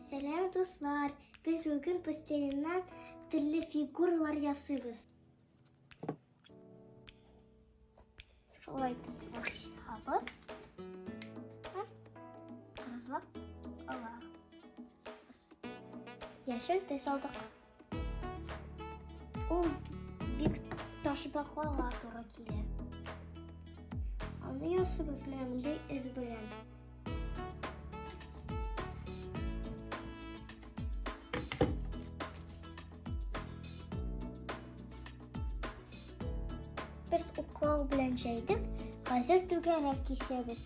Сәлам, дуслар! Без бүген пластилиннан төрле фигуралар ясыйбыз. Шулай итеп башлабыз. Разлап алабыз. Яшел төс алдык. Ул бик ташбакларга туры килә. Аны ясыбыз менә мондый эз белән. Без уклау белән җәйдек, хәзер түгәрәк кисәбез.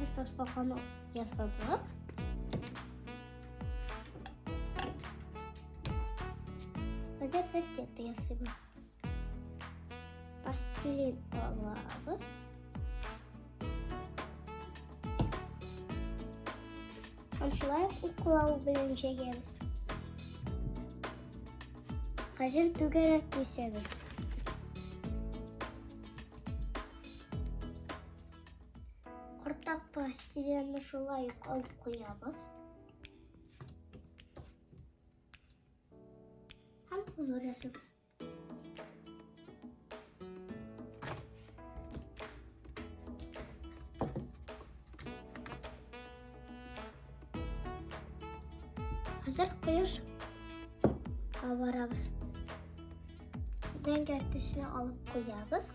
Без ташбаканы ясадык. Без ракета ясыйбыз. Пластилин алабыз. Шулай уклау белән җәйгәбез. Хәзер түгәрәк кисәбез. Кортак пастиләне шулай ук алып куябыз. Һәм хозур ясыйбыз. Хәзер кояш барабыз. Зәңгәр төсне алып куябыз.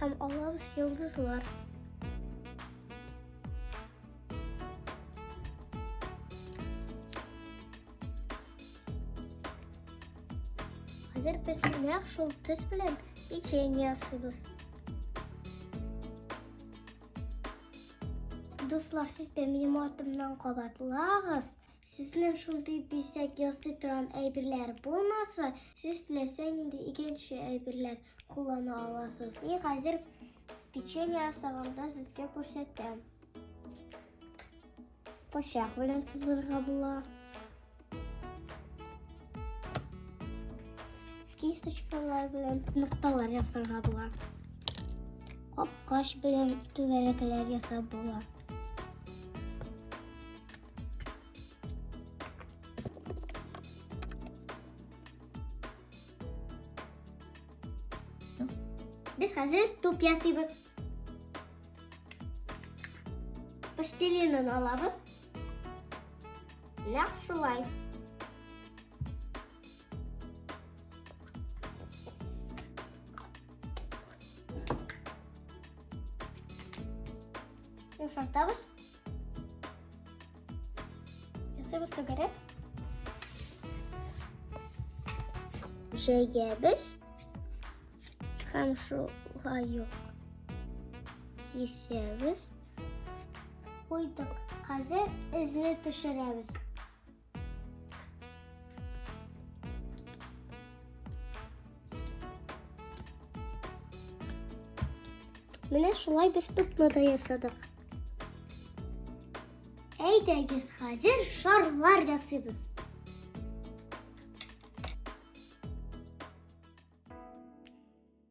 Һәм алабыз йолдызлар. Хәзер без нәкъ шул төс белән печенье ясыйбыз. Дуслар, сез дә минем артымнан кабатлагыз. Сезнең шундый бизәк ясый торган әйберләр булмаса, сез теләсә нинди икенче әйберләр Куллана аласыз. И хәзер печенье ясаганда сезгә күрсәтәм. Пычак белән сызырга була. Кисточкалар белән нокталар ясарга була. Капкач белән түгәрәкләр ясап була. Без хәзер туп ясыйбыз. Пластилинын алабыз. Нәкъ шулай. Йомшартабыз. Ясабыз түгәрәк. Җәябез һәм шулай юк. Кисәбез. Куйдык. Хәзер эзне төшерәбез. Менә шулай без тупны да ясадык. Әйдәгез, хәзер шарлар ясыйбыз.